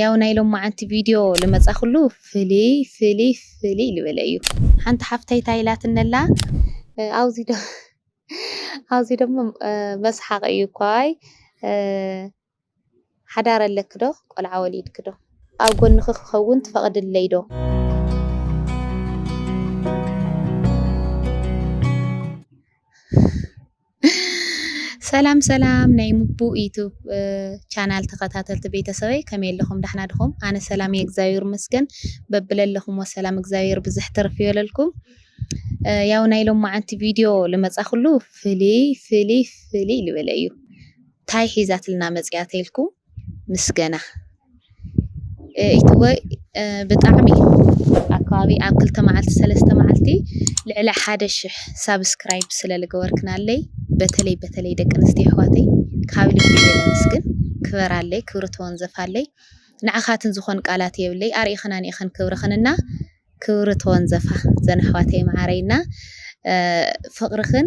ያው ናይ ሎማዓንቲ ቪድዮ ልመፃክሉ ፍልይ ፍልይ ፍልይ ልበለ እዩ ሓንቲ ሓፍተይ ታይ ኢላትነላ ኣውዚ ዶ ኣውዚ ደሞ መስሓቅ እዩ እኳይ ሓዳር ኣለኪ ዶ ቆልዓ ወሊድኪ ዶ ኣብ ጎንኪ ክከውን ትፈቅድለይ ዶ። ሰላም ሰላም ናይ ሙቡ ዩቱብ ቻናል ተኸታተልቲ ቤተሰበይ ከመይ ኣለኹም ዳሕና ድኹም? ኣነ ሰላም እየ እግዚኣብሔር ይመስገን በብለለኹሞ ሰላም እግዚኣብሔር ብዝሕ ትርፍ ይበለልኩም። ያው ናይ ሎማዓንቲ ቪድዮ ልመጻኹሉ ፍልይ ፍልይ ፍልይ ልበለ እዩ ታይ ሒዛትልና መጽያ ተልኩም ምስገና ኢቱቦይ ብጣዕሚ ኣብ ከባቢ ኣብ ክልተ መዓልቲ ሰለስተ መዓልቲ ልዕሊ ሓደ ሽሕ ሳብስክራይብ ስለ ዝገበርክናለይ በተለይ በተለይ ደቂ ኣንስትዮ ኣሕዋተይ ካብ ልቢ እየ ዘመስግን። ክበራለይ ክብሪ ተወንዘፋለይ። ንዓኻትን ዝኾን ቃላት የብለይ ኣርኢኽን ኣንኢኽን ክብርኽን እና ክብሪ ተወንዘፋ ዘን ኣሕዋተይ መዓረይ እና ፍቕርኽን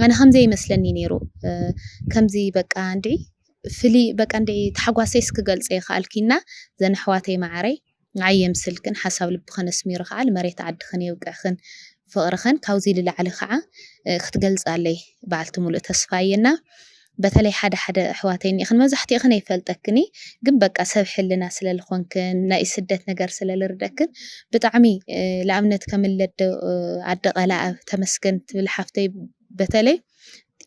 ኣነ ከምዘይመስለኒ ነይሩ ከምዚ በቃ እንድዒ ፍልይ በቃ እንድዒ ታሕጓሰይስ ክገልጸ ይክኣልኪ እና ዘን ኣሕዋተይ ማዓረይ ንዓይ የምስልክን ሓሳብ ልብክን ኣስሚሩ ክዓ ልመሬት ዓድክን የብቅዕክን ፍቅርክን ካብዙይ ልላዕሊ ክዓ ክትገልፃለይ ባዓልቲ ሙሉእ ተስፋ እየ እና በተለይ ሓደ ሓደ ኣሕዋተይ እኒኢክን መብዛሕቲእክን ኣይፈልጠክን እይ ግን በቃ ሰብ ሕልና ስለ ልኮንክን ናይ ስደት ነገር ስለ ልርደክን ብጣዕሚ ልኣብነት ከም ለደ ኣደ ቀላኣብ ተመስገን ትብል ሓፍተይ በተለይ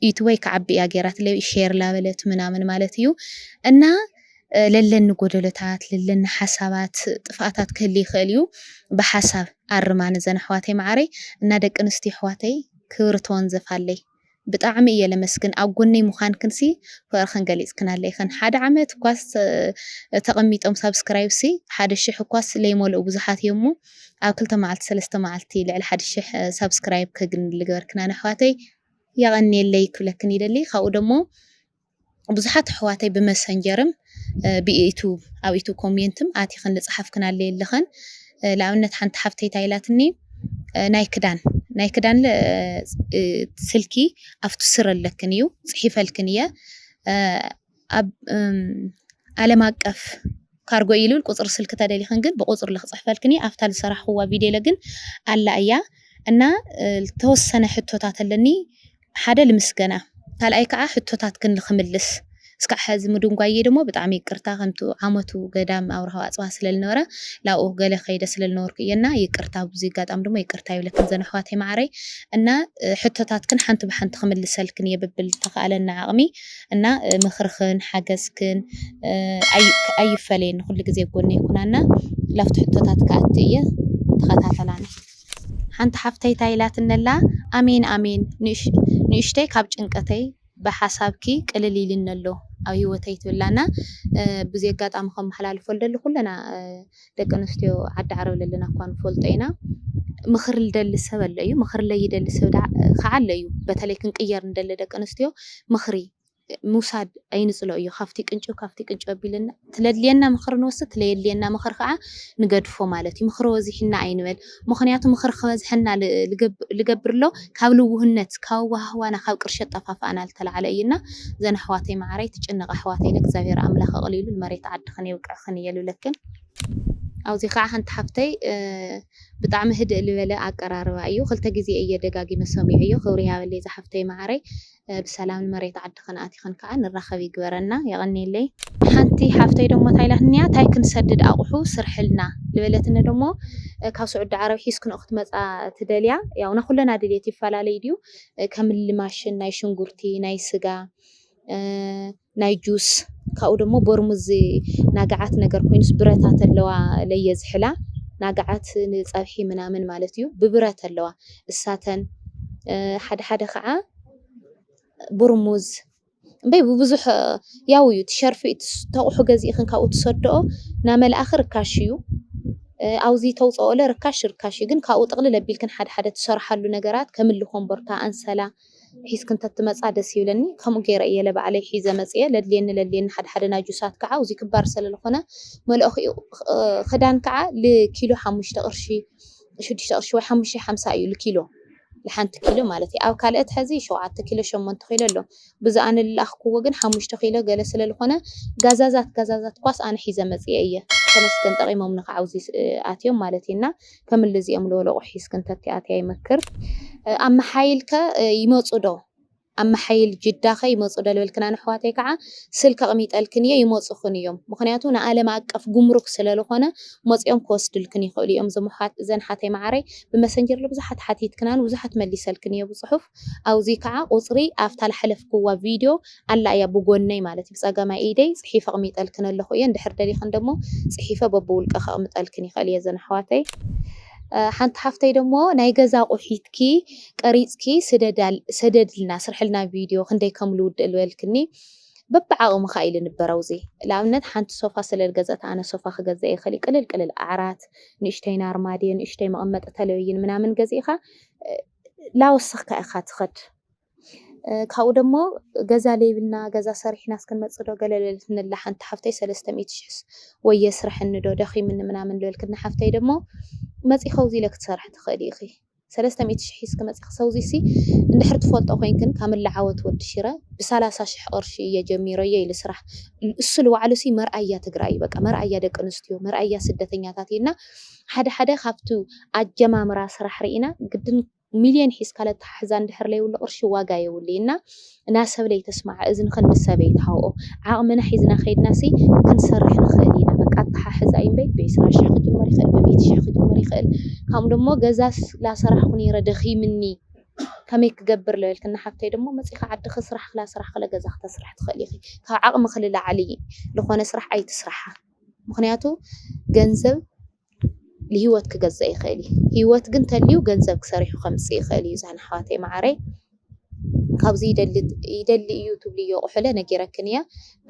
ዩቱበይ ክዓቢ እያ ገይራትለይ ሼር ላበለት ምናምን ማለት እዩ እና ለለኒ ጎደሎታት ለለኒ ሓሳባት ጥፍኣታት ክህል ይኽእል እዩ ብሓሳብ ኣርማ ንዘን ኣሕዋተይ መዓረይ እና ደቂ ኣንስትዮ ኣሕዋተይ ክብሪ ተወንዘፋለይ ብጣዕሚ እየ ለመስግን ኣብ ጎነይ ምዃንክንሲ ፍቕርኽን ገሊፅክናለይ ኢኽን ሓደ ዓመት እኳስ ተቐሚጦም ሳብስክራይብሲ ሓደ ሽሕ እኳስ ለይመልኡ ብዙሓት እዮም እሞ ኣብ ክልተ መዓልቲ ሰለስተ መዓልቲ ልዕሊ ሓደ ሽሕ ሳብስክራይብ ከግኒ ልገበርክናኒ ኣሕዋተይ የቀንየለይ ክብለክን ይደሊ ካብኡ ደሞ ብዙሓት ኣሕዋተይ ብመሰንጀርም ብኢቱብ ኣብ ኢቱብ ኮሜንትም ኣቲክን ልጽሓፍክናለይ ኣለክን ልኣብነት ሓንቲ ሓፍተይ ታይ ኢላትኒ ናይ ክዳን ናይ ክዳን ስልኪ ኣብቲ ስር ኣለክን እዩ ጽሒፈልክን እየ ኣብ ዓለም ኣቀፍ ካርጎ እዩ ልብል ቁፅሪ ስልኪ ተደሊኽን ግን ብቁፅሪ ልክፅሕፈልክን እየ ኣብታ ዝሰራሕኹዋ ቪድዮ ለግን ኣላ እያ እና ተወሰነ ሕቶታት ኣለኒ ሓደ ልምስገና ካልኣይ ከዓ ሕቶታት ግን ልክምልስ እስካዕ ሕዚ ምድንጓየ ደሞ ብጣዕሚ ይቅርታ ከምቲ ዓመቱ ገዳም ኣውርሃዊ ኣፅዋ ስለልነበረ ላብኡ ገለ ከይደ ስለልነበርኩ እየ እና ይቅርታ ብዙ ይጋጣም ደሞ ይቅርታ ይብለክን ዘን ኣሕዋተይ ማዓረይ እና ሕቶታትክን ሓንቲ ብሓንቲ ክምልሰልክን እየ ብብል ተኸኣለና ዓቕሚ እና ምክርክን ሓገዝክን ኣይፈለየኒ ኩሉ ግዜ ኣብ ጎነይ ኩና እና ላብቲ ሕቶታት ክኣቱ እየ ተከታተላኒ። ሓንቲ ሓፍተይ ታይ ኢላትኒ ኣላ ኣሜን ኣሜን ንእሽተይ ካብ ጭንቀተይ ብሓሳብኪ ቅልል ኢሉኒ ኣሎ ኣብ ሂወተይ ትብላ እና ብዚ ኣጋጣሚ ከመሓላልፎ ዝደሊ ኩልና ደቂ ኣንስትዮ ዓዲ ዓረብ ለለና እኳ ንፈልጦ ኢና። ምኽሪ ልደሊ ሰብ ኣሎ እዩ፣ ምኽሪ ለይደሊ ሰብ ደኣ ኸዓ ኣሎ እዩ። በተለይ ክንቅየር ንደሊ ደቂ ኣንስትዮ ምኽሪ ምውሳድ ኣይንጽሎ እዩ። ካብቲ ቅንጭብ ካብቲ ቅንጭብ ኣቢልና ትለድልየና ምኽሪ ንወስድ፣ ትለየድልየና ምኽሪ ኸዓ ንገድፎ ማለት እዩ። ምኽሪ ወዚሕና ኣይንበል። ምኽንያቱ ምኽሪ ክበዝሐና ልገብርሎ ካብ ልውህነት ካብ ኣዋሃህባና ካብ ቅርሺ ኣጠፋፍኣና ልተላዕለ እዩ እና ዘን ኣሕዋተይ ማዓረይ ትጭነቃ ኣሕዋተይ ለእግዚኣብሔር ኣምላክ ኣቅሊሉ ልመሬት ዓድኽን የብቅዕኽን እየ ልብለክን ኣውዚ ካዓ ሓንቲ ሓፍተይ ብጣዕሚ ህድእ ልበለ ኣቀራርባ እዩ ክልተ ግዜ እየ ደጋጊመ ሰሚዐዮ ክብሪ ይሃበለይ ዛሓፍተይ ማዓረይ ብሰላም ንመሬት ዓድኽን ኣቲኽን ከኣ ንራኸብ ይግበረና። የቐንየለይ። ሓንቲ ሓፍተይ ደሞ ታይ ኢላትኒያ ታይ ክንሰድድ ኣቁሑ ስርሕልና ልበለትኒ ደሞ ካብ ሱዑዲ ዓረብ ሒዝክንኦ ክትመጻ ትደልያ ያው ናኩለና ድልየት ይፈላለይ ድዩ ከምሊ ማሽን ናይ ሽንጉርቲ ናይ ስጋ ናይ ጁስ ካብኡ ደሞ በርሙዝ ናግዓት ነገር ኮይኑስ ብረታ ተለዋ ለየ ዝሕላ ናግዓት ንጸብሒ ምናምን ማለት እዩ ብብረት ኣለዋ እሳተን ሓደ ሓደ ከዓ ብርሙዝ እምበይ ብብዙሕ ያው እዩ ትሸርፊ ተቑሑ ገዚእኽን ካብኡ ትሰደኦ ናመልኣኺ ርካሽ እዩ ኣውዚ ተውፀኦለ ርካሽ ርካሽ እዩ ግን ካብኡ ጥቕልል ኣቢልክን ሓደ ሓደ ትሰርሓሉ ነገራት ከምሊ ኮምቦርታ ኣንሰላ ሒዝክን ተትመጻ ደስ ይብለኒ ከምኡ ገይረ እየ ለባዕለይ ሒዘ መጽየ ለድልየኒ ለድልየኒ ሓደ ሓደ ናጁሳት ካዓ ኣውዚ ክባር ሰለልኾነ መለኦኺኡ ኽዳን ካዓ ልኪሎ ሓሙሽተ ቅርሺ ሽዱሽተ ቅርሺ ወይ ሓሙሽተ ሓምሳ እዩ ልኪሎ ልሓንቲ ኪሎ ማለት ኣብ ካልእት ሐዚ ሸውዓተ ኪሎ ሸሞንተ ኪሎ ኣሎ ብዚ ኣነ ልለኣኽክዎ ግን ሓሙሽተ ኪሎ ገለ ሰለልኾነ ጋዛዛት ጋዛዛት ኳስ ኣነ ሒዘ መጽየ እየ ተመስገን ጠቂሞምኒ ካዓ ኣውዚ ኣትዮም ማለት እዩ እና ከምሊ እዚኦም ልበሉ ኣቑሑ ሒዝክን ተትኣትያ ይመክር። ኣብ መሓይልከ ይመፁ ዶ? ኣብ መሓይል ጅዳኸ ይመፁ ዶ ልበልክና ነሕዋተይ ከዓ ስልኪ ኣቕሚጠልክን እየ ይመፁኽን እዮም። ምኽንያቱ ንኣለም ኣቀፍ ጉምሩክ ስለልኾነ መፂኦም ክወስድልክን ይኽእሉ እዮም። እዞም ኣሕዋት እዘን ሓተይ መዓረይ ብመሰንጀር ልብዙሓት ሓቲትክናን ብዙሓት መሊሰልክን እየ ብፅሑፍ። ኣውዚ ካዓ ቁፅሪ ኣፍታ ልሓለፍክዋ ቪድዮ ኣላ እያ ብጎነይ ማለት እዩ ብፀገማይ ኢደይ ፅሒፈ ኣቅሚጠልክን ኣለኩ እየ እንድሕር ደሊክን ደሞ ፅሒፈ በብውልቀ ከቅምጠልክን ይክእል እየ እዘን ኣሕዋተይ ሓንቲ ሓፍተይ ደሞ ናይ ገዛ ኣቁሒትኪ ቀሪፅኪ ሰደድልና ስርሕልና ቪድዮ ክንደይ ከም ልውድእ ልበልክኒ በብዓቅምካ እዩ ልንበር ኣውዚ ልኣብነት ሓንቲ ሶፋ ስለ ልገዘእት ኣነ ሶፋ ክገዘእ ይክእል እዩ ቅልል ቅልል ዓራት ንእሽተይን ኣርማድዮ ንእሽተይ መቀመጢ ተለብይን ምናምን ገዚእካ ላወሰኽካ ኢኻ ትኸድ ካብኡ ደሞ ገዛ ለይብልና ገዛ ሰሪሕና እስክንመፅእ ዶ ገለ ልብል ንላ ሓንቲ ሓፍተይ ሰለስተ ሚእቲ ሽሕስ ወይ የስረሐኒ ዶ ደኺምኒ ምናምን ልበልክኒ ሓፍተይ ደሞ መፂ ከውዚ ኢለ ክትሰርሒ ትኽእሊ ኢኺ ሰለስተ ሚእቲ ሽሕ ሒዝኪ መፂኺ ሰውዚሲ እንድሕር ትፈልጦ ኮይንክን ካምላ ዓወት ወዲ ሽረ ብሳላሳ ሽሕ ቕርሺ እየ ጀሚረዮ ኢሊ ስራሕ እሱ ልባዕሉሲ መርኣያ ትግራይ እዩ በቃ መርኣያ ደቂ ኣንስትዮ መርኣያ ስደተኛታት እዩ እና ሓደ ሓደ ካብቱ ኣጀማምራ ስራሕ ሪኢና ግድን ሚልዮን ሒዝካ ለተሓሕዛ እንድሕር ለይብሉ ቅርሺ ዋጋ የብሉይ እና እና ሰብ ለይተስማዐ እዝን ክንዲ ሰብ የይትሃውኦ ዓቅምና ሒዝና ከይድናሲ ክንሰርሕ ንክእል ኢና በቃ ኣተሓሕዛ እዩ እምበይ ብዒስራ ሽሕ ክጅመር ይክእል ብሚእቲ ሽሕ ክጅመር ይክእል ካምኡ ደሞ ገዛ ላሰራሕኩ ነይረ ደኪምኒ ከመይ ክገብር ለበልክኒ ሓፍተይ ደሞ መፂካ ዓድኪ ስራሕክ ላሰራሕክ ለገዛክ ተስርሒ ትክእል ኢኪ ካብ ዓቅምኪ ልላዕሊ ልኮነ ስራሕ ኣይትስራሓ። ምኽንያቱ ገንዘብ ልሂወት ክገዝእ ይኽእል እዩ ሂወት ግን ተልዩ ገንዘብ ክሰሪሑ ከምጽእ ይኽእል እዩ ዛን ኣሕዋተይ መዓረይ ካብዚ ይደሊ ይደሊ እዩ ትብልዮ ቁሑለ ነጊረክን እየ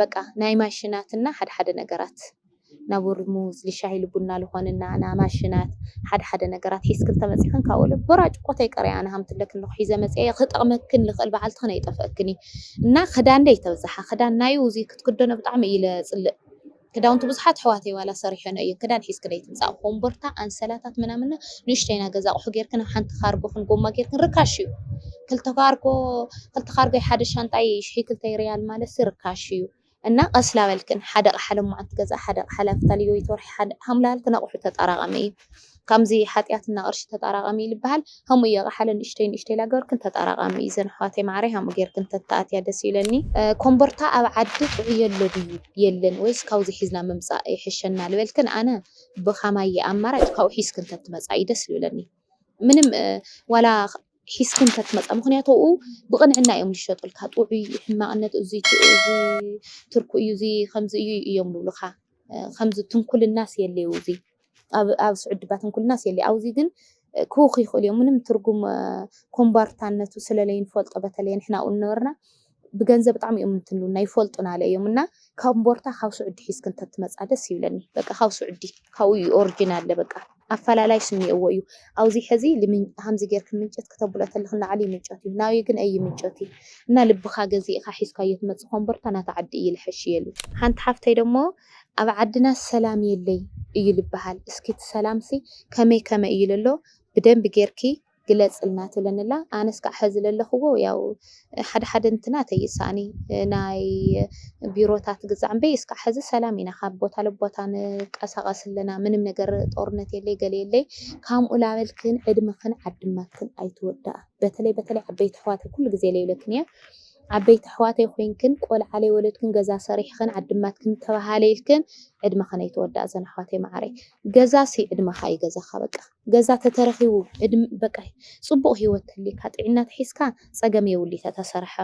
በቃ ናይ ማሽናት እና ሓደ ሓደ ነገራት ናብ ውርሙዝ ልሻሂ ልቡና ልኾንና ና ማሽናት ሓደ ሓደ ነገራት ሒዝክን ተመጺኽን ካብኡ ለ ቦራጭ ቆተይ ቀረይ ኣነ ሃምትለክን ልኹ ሒዘ መጽኤ ክጠቕመክን ልኽእል በዓልትኽን ኣይጠፍአክን እና ክዳን ደይ ተብዝሓ ክዳን ናዩ እዚ ክትክደኖ ብጣዕሚ እዩ ለጽልእ ክዳውንቲ ብዙሓት ኣሕዋተይ ዋላ ሰሪሐንኦ እየ ክዳን ሒዝኪ ደይትምፃእ ኮምቦርታ ኣንሰላታት ምናምን እና ንእሽተይ ናይ ገዛ ኣቁሑ ጌርክን ኣብ ሓንቲ ካርጎክን ጎማ ጌርክን ርካሽ እዩ ክልተ ካርጎ ክልተ ካርጎ ሓደ ሻንጣይ ሽሒ ክልተይ ሪያል ማለት ሲ ርካሽ እዩ እና ቀስላ በልክን ሓደ ቃሓ ለማዓንቲ ገዛ ሓደ ቃሓ ላፍታ ልዮይት ወርሒ ሓደ ሃምላልክን ኣቁሑ ተጣራቃሚ እዩ ከምዚ ሓጥያት እና ቅርሺ ተጣራቀሚ ልባሃል ከምኡ እየ ቃሓለ ንእሽተይ ንእሽተይ ላገበርክን ተጣራቃሚ እዘን ኣሕዋተይ ማዓረይ ሃምኡ ገርክን ተታኣትያ ደስ ይብለኒ። ኮምቦርታ ኣብ ዓዲ ጥዑይ የሎ ድዩ የለን ወይስ ካውዚ ሒዝና ምምጻእ ይሕሸና ልበልክን ኣነ ብካማይ ኣማራጭ ካውኡ ሒዝክን ተትመጻ እዩ ደስ ልብለኒ ምንም ዋላ ሒዝክን ተትመጻ ምክንያቱ ኣብኡ ብቅንዕና እዮም ልሸጡልካ ጥዑይ ሕማቅነት እዙይ ትርኩ እዩ እዙይ ከምዚ እዩ እዮም ልብሉካ ከምዚ ትንኩልናስ የለይ እውዙይ ኣብ ኣብ ስዑድ ድባ ትንኩልናስ የለ ኣውዚ ግን ክውኽ ይኽእሉ እዮም ምንም ትርጉም ኮምባርታነቱ ስለለይ ንፈልጦ በተለየ ንሕና ኣብኡ ንነበርና ብገንዘብ ብጣዕሚ እዮም እንትንሉና ይፈልጡና ኣለ እዮም እና ካብ ቦርታ ካብ ስዑዲ ሒዝክ እንተትመፃ ደስ ይብለኒ በቃ ካብ ስዑዲ ካብኡ እዩ ኦሪጂን ኣለ በቃ ኣፈላላይ ስኒኦዎ እዩ ኣብዚ ሕዚ ሃምዚ ጌርክ ምንጨት ክተብሎ ተልክ ንዓሊ ምንጨት እዩ ናብይ ግን ኣይ ምንጨት እዩ እና ልብኻ ገዚእኻ ሒዝካዮ ትመፅእ ኮምቦርታ ናታ ዓዲ እዩ ልሐሽ እየሉ ሓንቲ ሓፍተይ ደሞ ኣብ ዓድናስ ሰላም የለይ እዩ ልበሃል እስኪ እቲ ሰላምሲ ከመይ ከመይ እዩ ለሎ ብደንቢ ጌርኪ ግለጽልና ትብለኒ ኣላ ኣነስ ክኣ ሐዚ ለለኽዎ ያው ሓደ ሓደ እንትናተይ እዩ ዝሰኣኒ ናይ ቢሮታት ግዛዕ እምበይ እስካዕ ሐዚ ሰላም ኢና ካብ ቦታ ለቦታ ንቀሳቀስ ኣለና ምንም ነገር ጦርነት የለይ ገለ የለይ ካምኡ ላበልክን ዕድምኽን ዓድማትክን ኣይትወዳኣ በተለይ በተለይ ዓበይቲ ኣሕዋተይ ኩሉ ግዜ ለይብለክን እየ ዓበይቲ ኣሕዋተይ ኮይንክን ቆልዓ ለይወለድክን ገዛ ሰሪሕኽን ዓዲማትክን ተባሃለ ኢልክን ዕድመኽን ኣይተወዳኣ ዘን ኣሕዋተይ ማዓረይ ገዛ ሲ ዕድመኻ እዩ ገዛኻ በቃ ገዛ ተተረኺቡ ዕድም በቃ ፅቡቅ ሂወት ተሊካ ጢዒና ተሒዝካ ፀገም የብሉይ ተተሰረሐ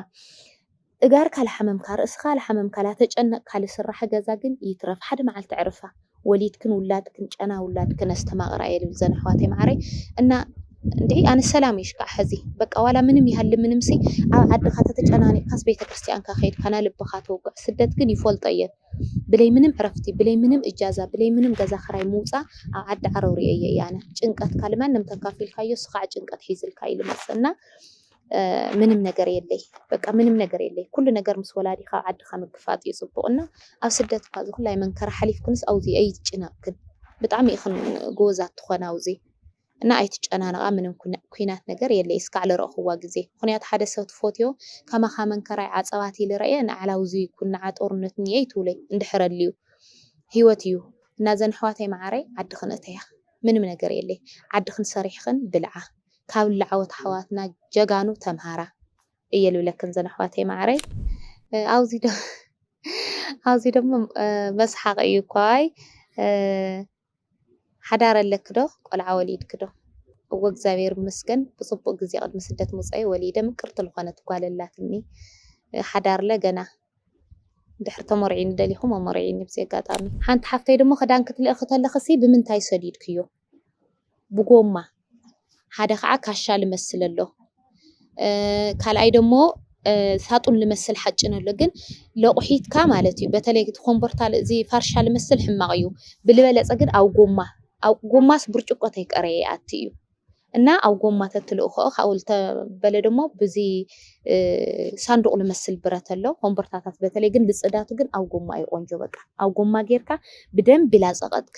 እጋርካ ላሓመምካ ርእስኻ ላሓመምካ ላተጨነቅካ ልስራሕ ገዛ ግን ይትረፍ ሓደ ማዓልቲ ዕርፋ ወሊድክን ውላድክን ጨና ውላድክን ኣስተማቅራ እየ ልብል ዘነ ኣሕዋተይ ማዓረይ እና እንድዒ ኣነ ሰላም እየ ሽካዕ ሐዚ በቃ ዋላ ምንም ይሃሊ ምንም ሲ ኣብ ዓድካ ተተጨናኒቅካስ ቤተክርስትያንካ ከይድካ ናይ ልብካ ተውግዕ ስደት ግን ይፎልጦ እየ ብለይ ምንም ዕረፍቲ ብለይ ምንም እጃዛ ብለይ ምንም ገዛ ክራይ ምውፃ ኣብ ዓዲ ዓረው ሪኤዮ እየ ኣነ ጭንቀትካ ልማንም ተካፊልካዮ ስካዕ ጭንቀት ሒዝልካ እዩ ልመፅእ እና ምንም ነገር የለይ በቃ ምንም ነገር የለይ ኩሉ ነገር ምስ ወላዲኻ ዓድኻ ምግፋጥ እዩ ጽቡቕ እና ኣብ ስደት እኳ ዝኹላይ መንከራ ሓሊፍክንስ ኣውዚ ኣይትጭነቕክን ብጣዕሚ ኢኽን ጎወዛት ትኾና ኣውዚ እና ኣይትጨናነቓ ምንም ኩናት ነገር የለይ እስካዕ ልረእኽዋ ግዜ ምኽንያቱ ሓደ ሰብ ትፎትዮ ከማኻ መንከራይ ዓጸባት ኢሊ ረእየ ንዓላ ኣውዚ ይኩን ንዓ ጦርነት እኒኤ ይትብለይ እንድሕር ኣልዩ ህይወት እዩ እና ዘን ኣሕዋተይ መዓረይ ዓድኽን እተያ ምንም ነገር የለይ ዓድኽን ሰሪሕኽን ብልዓ ካብ ላዕዎት ኣሕዋትና ጀጋኑ ተምሃራ እየ ልብለክን ዘን ኣሕዋተይ ማዓረይ ኣውዚ ዶ ኣውዚ ደሞ መስሓቅ እዩ እኳ ኣይ ሓዳር ኣለኪ ዶ ቆልዓ ወሊድኪ ዶ እወ እግዚኣብሔር ይመስገን ብፅቡቅ ግዜ ቅድሚ ስደት ምውፀይ ወሊደ ምቅርቲ ልኾነት ጓል ኣላትኒ ሓዳርለ ገና ድሕሪ ተመርዒኒ ደሊኹም ኣመርዒኒ ብዚ ኣጋጣሚ ሓንቲ ሓፍተይ ድሞ ክዳን ክትልእኺ ተለኽሲ ብምንታይ ሰዲድክዮ ብጎማ ሓደ ካዓ ካሻ ልመስል ኣሎ ካልኣይ ደሞ ሳጡን ልመስል ሓጭን ኣሎ ግን ለቁሒትካ ማለት እዩ በተለይ እቲ ኮምቦርታ እዚ ፋርሻ ልመስል ሕማቅ እዩ ብልበለፀ ግን ኣብ ጎማ ኣብ ጎማስ ብርጭቆ ተይቀረየ ይኣቲ እዩ እና ኣብ ጎማ ተትልእኮኦ ካብኡ ልተበለ ደሞ ብዚ ሳንዱቅ ልመስል ብረት ኣሎ ኮምቦርታታት በተለይ ግን ልፅዳቱ ግን ኣብ ጎማ እዩ ቆንጆ በቃ ኣብ ጎማ ገይርካ ብደንቢ ላፀቀጥክ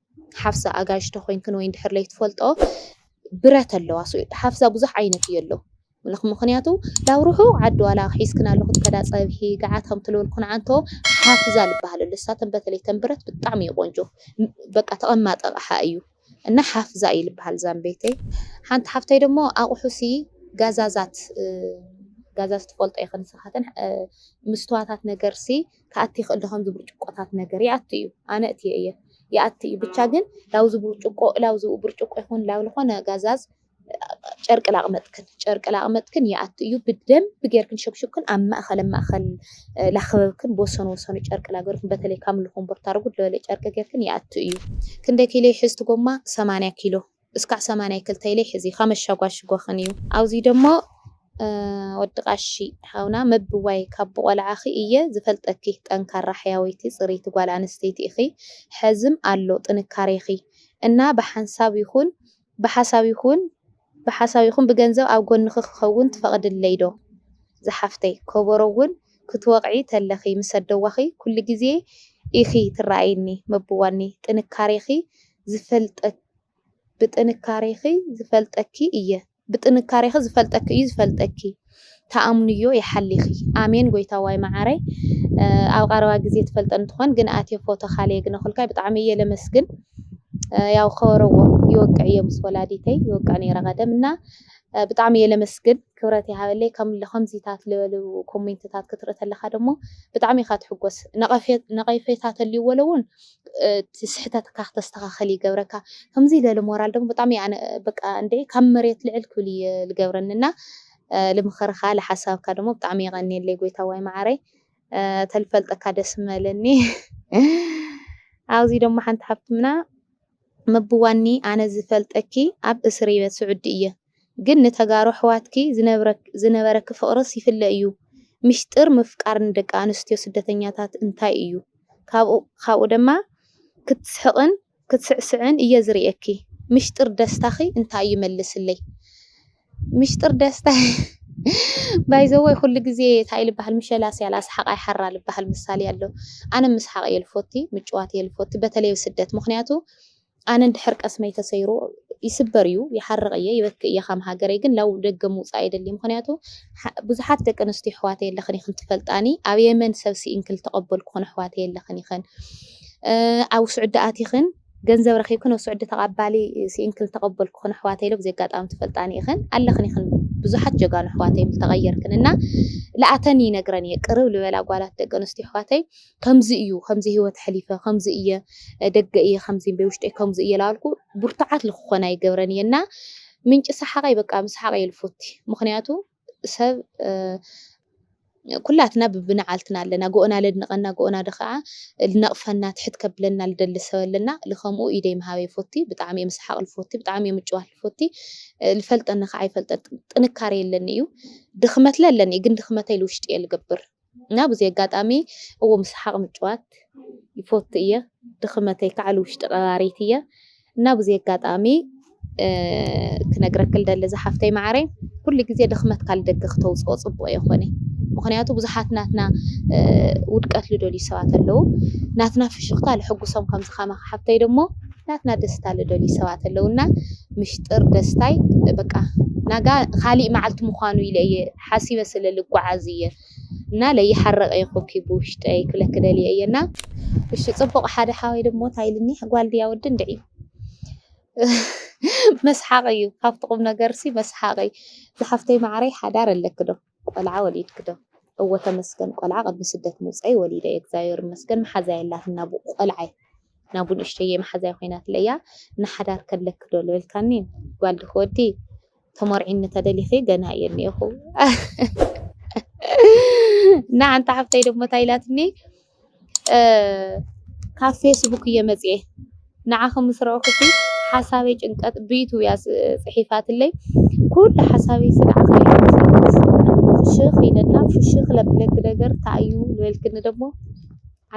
ሓፍሳ ኣጋይሽ ተኾይንክን ወይ እንድሕር ለይትፈልጥኦ ብረት ኣለዋ ሓፍሳ ብዙሕ ዓይነት እዩ ኣሎ ምኽንያቱ ላብ ርሑቕ ዓዲ ዋላ ሒዝክና ኣለኹ ትከዳ ፀብሒ ገዓት ከም ትልበልኩን ዓንቶ ሓፍዛ ልበሃል ኣሎ እሳተን በተለይ ተን ብረት ብጣዕሚ እዩ ቆንጆ በቃ ተቐማጢ ኣቕሓ እዩ እና ሓፍዛ እዩ ልበሃል ዛም ቤተይ ሓንቲ ሓፍተይ ደሞ ኣቑሑሲ ጋዛዛት ጋዛዝ ትፈልጦ ይኽን ንስኻትን ምስትዋታት ነገርሲ ክኣቲ ይኽእል ዶ ከምዚ ብርጭቆታት ነገር ይኣቱ እዩ ኣነ እእትዮ እየ ይኣቲ እዩ ብቻ ግን ላውዚ ብርጭቆ ላውዚ ብርጭቆ ይኹን ላው ዝኾነ ጋዛዝ ጨርቂ ላቕመጥክን ጨርቂ ላቕመጥክን ይኣቱ እዩ ብደንብ ጌርክን ሸብሽብክን ኣብ ማእኸል ኣብ ማእኸል ላኸበብክን ብወሰኑ ወሰኑ ጨርቂ ላገርክን በተለይ ካብ ምልኹም ቦርታ ርጉድ ለበለ ጨርቂ ጌርክን ይኣቱ እዩ ክንደይ ኪሎ ይሕዝ እቲ ጎማ ሰማንያ ኪሎ እስካዕ ሰማንያ ክልተ ኢለይ ሕዚ ከመሻጓሽጎክን እዩ ኣውዙይ ደሞ ወዲ ቃሺ ሓውና መብዋይ ካብ ብቆልዓኪ እየ ዝፈልጠኪ ጠንካራ ሕያወይቲ ፅሪቲ ጓል ኣነስተይቲ እኪ ሐዝም ኣሎ ጥንካሬኪ እና ብሓንሳብ ይኩን ብሓሳብ ይኩን ብሓሳብ ይኩን ብገንዘብ ኣብ ጎንኪ ክከውን ትፈቅድለይ ዶ ዝሓፍተይ ኮቦሮ እውን ክትወቅዒ ተለኪ ምስ ኣደዋኪ ኩሉ ግዜ ኢኪ ትረኣይኒ መብዋኒ ጥንካሬኪ ዝፈልጠኪ ብጥንካሬኺ ዝፈልጠኪ እየ ብጥንካሬኺ ዝፈልጠኪ እዩ ዝፈልጠኪ ተኣምንዮ ይሓሊኺ ኣሜን ጎይታዋይ መዓረይ ኣብ ቐረባ ግዜ ትፈልጠን ትኾን ግን ኣቴ ፎቶ ካለ የግነኹልካይ ብጣዕሚ እየ ለመስግን ያው ከወረዎ ይወቅዕ እየ ምስ ወላዲተይ ይወቅዕ ነይረ ቀደም እና ብጣዕሚ እየ ለመስግን ክብረት ይሃበለይ ከም ከምዚታት ልበሉ ኮሜንትታት ክትርኢ ተለካ ደሞ ብጣዕሚ ኢኻ ትሕጎስ ነቐፌታ ተልይዎ ለውን እቲ ስሕተትካ ክተስተኻኽል ይገብረካ። ከምዚ ለለ ሞራል ደሞ ብጣሚ እየ ኣነ በቃ እንዴ ካብ መሬት ልዕል ክብል እየ ልገብረኒ እና ልምኽርኻ ልሓሳብካ ደሞ ብጣሚ የቀንየለይ ጎይታዋይ ማዓረይ ተልፈልጠካ ደስ ምበለኒ። ኣብዚ ደሞ ሓንቲ ሓፍትምና መብዋኒ ኣነ ዝፈልጠኪ ኣብ እስርይበት ስዑዲ እየ። ግን ንተጋሩ ኣሕዋትኪ ዝነበረኪ ፍቅርስ ይፍለ እዩ ምሽጥር ምፍቃር ንደቂ ኣንስትዮ ስደተኛታት እንታይ እዩ ካብኡ ደማ ክትስሕቅን ክትስዕስዕን እየ ዝርእየኪ ምሽጥር ደስታኪ እንታይ እዩ መልስለይ ምሽጥር ደስታ By the way ኩሉ ግዜ ታይ ልባሃል ምሸላ ስያላ ስሓቅ ኣይሓራ ልባሃል ምሳሌ ኣሎ ኣነ ምስሓቅ እየ ልፎቲ ምጭዋት እየ ልፎቲ በተለይ ኣብ ስደት ምክንያቱ ኣነ እንድሕር ቀስመይ ተሰይሩ ይስበር እዩ ይሓርቅ እየ ይበክእ እየ ካም ሃገረይ ግን ላው ደገ ምውጻእ ኣይደልይ ምክንያቱ ብዙሓት ደቂ ኣንስትዮ ኣሕዋተይ ኣለክን ኢክን ትፈልጣኒ ኣብ የመን ሰብ ስኢንክን ዝተቀበልኩክን ኣሕዋተይ ኣለክን ኢክን ኣብ ስዑዲ ኣቲክን ገንዘብ ረኪብክን ኣብ ስዑዲ ተቀባሊ ስኢንክን ዝተቀበልኩክን ኣሕዋተይ ሎ ብዘይ ኣጋጣሚ ትፈልጣኒ ኢክን ኣለክን ኢክን ብዙሓት ጀጋኑ ኣሕዋተይ ተቀየርክን እና ለኣተን ይነግረን እየ ቅርብ ልበላ ጓላት ደቂ ኣንስትዮ ኣሕዋተይ ከምዚ እዩ ከምዚ ሂወት ሐሊፈ ከምዚ እየ ደገ እየ ከምዚ እምበይ ውሽጠይ ከምዚ እየ ላበልኩ ቡርቱዓት ልክኾን ኣይገብረን እየ እና ምንጪ ሳሓቀይ በቃ ምስሓቅ እየ ልፎቲ ምኽንያቱ ሰብ ኩላትና ብብናዓልትና ኣለና ጎኦና ለድንቀና ጎኦና ድኻዓ ልነቅፈና ትሕት ከብለና ልደሊ ሰብ ኣለና ልከምኡ ኢደይ ምሃብ እየ ልፎቲ ብጣዕሚ እየ ምስሓቅ ልፎቲ ብጣዕሚ እየ ምጭዋት ልፎቲ ልፈልጠኒ ካዓ ይፈልጠኒ ጥንካሬ የለኒ እዩ ድኽመት ለለኒ እዩ ግን ድኽመተይ ልውሽጢ እየ ልገብር እና ብዙይ ኣጋጣሚ እው ምስሓቕ ምጭዋት ይፎቱ እየ ድኽመተይ ከዓል ውሽጢ ቐባሪት እየ እና ብዙይ ኣጋጣሚ ክነግረክል ደሊ ዝሓፍተይ መዓረይ ኩሉ ጊዜ ድኽመት ካል ደገ ክተውፅኦ ፅቡቕ የኾነ ምኽንያቱ ብዙሓት ናትና ውድቀት ልደልዩ ሰባት ኣለዉ ናትና ፍሽኽታ ልሕጉሶም ከምዝኻመ ሓፍተይ ደሞ ናትና ደስታ ልደልዩ ሰባት ኣለዉና ምሽጥር ደስታይ በቃ ናጋ ካሊእ መዓልቲ ምዃኑ ኢለ እየ ሓሲበ ስለ ልጓዓዝ እየ እና ለይሓረቀ ይኮኪ ብውሽጠይ ክብለኪ ደልየ እየ እና። እሺ ጽቡቅ ሓደ ሓወይ ደሞ ታይ ኢልኒ ጋል ድያ ወዲ እንድዒ መስሓቅ እዩ ካብቲ ቁምነገር ሲ መስሓቅ እዩ ዝሓፍተይ ማዓረይ ሓዳር ኣለኪ ዶ ቆልዓ ወሊድኪ ዶ እወ ተመስገን ቆልዓ ቅድሚ ስደት ምውፀይ ወሊደ እየ እግዚኣብሔር ይመስገን ማሓዛ የላትን ናቡ ቆልዓይ ናቡ ንእሽተየይ ማሓዛይ ኮይናትለይ እያ እና ሓዳር ከለኪ ዶ ልበልካኒ ጋል ድኪ ወዲ ተመርዒኒ ተደሊኺ ገና እየ እኒኤኹ እና ሓንቲ ሓፍተይ ደሞ እንታይ ኢላትኒ ካብ ፌስቡክ እየ መፅኤ ንዓኺ ምስ ረእኹሲ ሓሳበይ ጭንቀት ብይቱ እያ ፅሒፋትለይ ኩሉ ሓሳበይ ስንዓኺ ሽኽ ኢለና ፍሽኽ ለብለግ ነገር እንታይ እዩ ዝበልክኒ ደሞ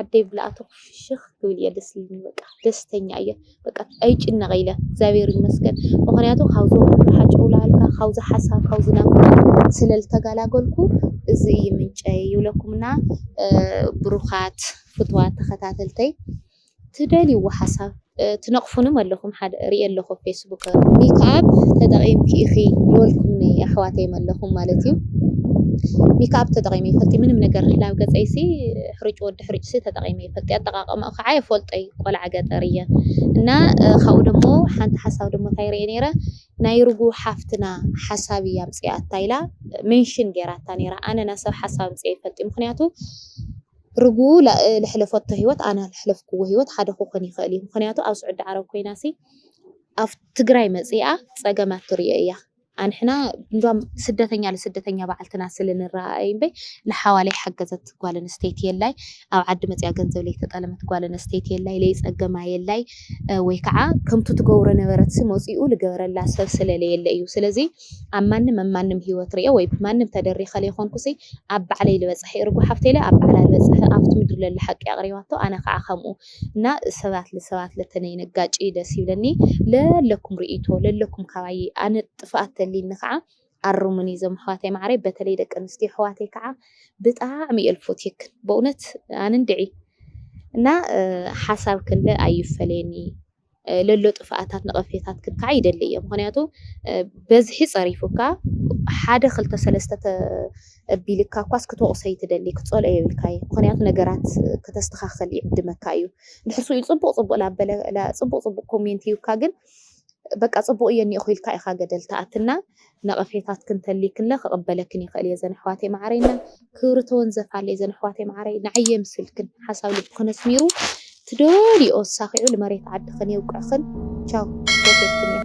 ዓደይ ብላኣቶ ፍሽክ ክብል እየ ደስ ኢሉኒ በቃ ደስተኛ እየ በቃ ኣይጭነቀ ኢለ እግዚኣብሔር ይመስገን ምክንያቱ ካብዚ ወርሓ ጨውላልካ ካብዚ ሓሳብ ካብዚ ናፍቆት ስለ ዝተጋላገልኩ እዚ እዩ ምንጨይ ይብለኩምና ብሩካት ፍትዋት ተከታተልተይ ትደልይዎ ሓሳብ ትነቅፉንም ኣለኹም ሓደ ሪኤ ኣለኹ ኣብ ፌስቡክ። ሚክኣፕ ተጠቂምኪ ኢኺ ልበልኩምኒ ኣሕዋተይ መለኹም ማለት እዩ ሚክኣፕ ተጠቂመ ይፈልጢ ምንም ነገር ላብ ገፀይሲ ሕሩጭ ወዲ ሕሩጭሲ ተጠቂመ ይፈልጢ ኣጠቃቀማኡ ከዓ የፈልጦይ ቆልዓ ገጠር እየ እና ካብኡ ደሞ ሓንቲ ሓሳብ ደሞ እንታይ ሪኤ ነይረ ናይ ርጉ ሓፍትና ሓሳብ እያ ኣምፂኣታ ኢላ ሜንሽን ገይራታ ነይራ ኣነ ናሰብ ሓሳብ ኣምፂኤ ይፈልጢ ምክንያቱ ርግኡ ልሐለፈቶ ሂወት ኣነ ልሐለፍክዎ ሂወት ሐደ ክኾን ይኽእል እዩ ምኽንያቱ ኣብ ስዑዲ ዓረብ ኮይናሲ ኣብ ትግራይ መጺኣ ጸገማት ትሪኦ እያ ኣንሕና እንዲያም ስደተኛ ልስደተኛ ባዕልትና ስለ ንራኣኣ እዩ እምበይ ልሓዋለይ ሓገዘት ጓል ኣንስተይቲ የላይ ኣብ ዓዲ መጺኣ ገንዘብ ለይተጠለመት ጓል ኣንስተይቲ የላይ ለይጸገማ የላይ ወይ ከዓ ከምቱ ትገብሮ ነበረትሲ መጺኡ ልገበረላ ሰብ ስለ ለየለ እዩ ስለዚ ኣብ ማንም ኣብ ማንም ሂወት ሪኤ ወይ ብማንም ተደሪኸ ለይኮንኩሲ ኣብ ባዕለይ ልበፅሐ እርጉ ሓፍተይ ኣብ ባዕላ ልበፅሐ ኣብቲ ምድሪ ለሎ ሓቂ ኣቅሪባቶ ኣነ ካዓ ከምኡ እና ሰባት ልሰባት ለተነይነጋጭይ ደስ ይብለኒ ለለኩም ሪኢቶ ለለኩም ካባይይ ኣነ ጥፍኣት ተልይኒ ካዓ ኣርሙኒ ዞም ኣሕዋተይ ማዓረይ በተለይ ደቂ ኣንስትዮ ኣሕዋተይ ካዓ ብጣዕሚ እየ ልፎትየክን በእውነት ኣነ እንድዒ እና ሓሳብክን ለ ኣይፈለየኒ። ለሎ ጥፍኣታት ነቐፌታት ክካዕ ይደሊ እየ ምክንያቱ በዝሒ ፀሪፉካ ሓደ ክልተ ሰለስተ ተቢልካ እኳስ ክትወቕሶ ይትደሊ ክትፀልኦ የብልካ እዩ ምክንያቱ ነገራት ከተስተኻኸል ይዕድመካ እዩ ድሕር ስኡ ፅቡቕ ፅቡቕ ላበለ ፅቡቕ ፅቡቕ ኮሜንት ይብካ ግን በቃ ፅቡቕ እየ እኒኦ ክኢልካ ኢኻ ገደል ትኣትና ነቐፌታትክን ተልይክለ ክቕበለክን ይኽእል እየ ዘን ኣሕዋተይ መዓረይ እና ክብሪ ተወንዘፍ ኣለይ ዘን ኣሕዋተይ መዓረይ ንዓይ የምስልክን ሓሳብ ልብክን ኣስሚሩ ትደልይኦ ኣሳኺዑ ልመሬት ዓድኽን የውቅዕኽን ቻው ፈትየክን እየ።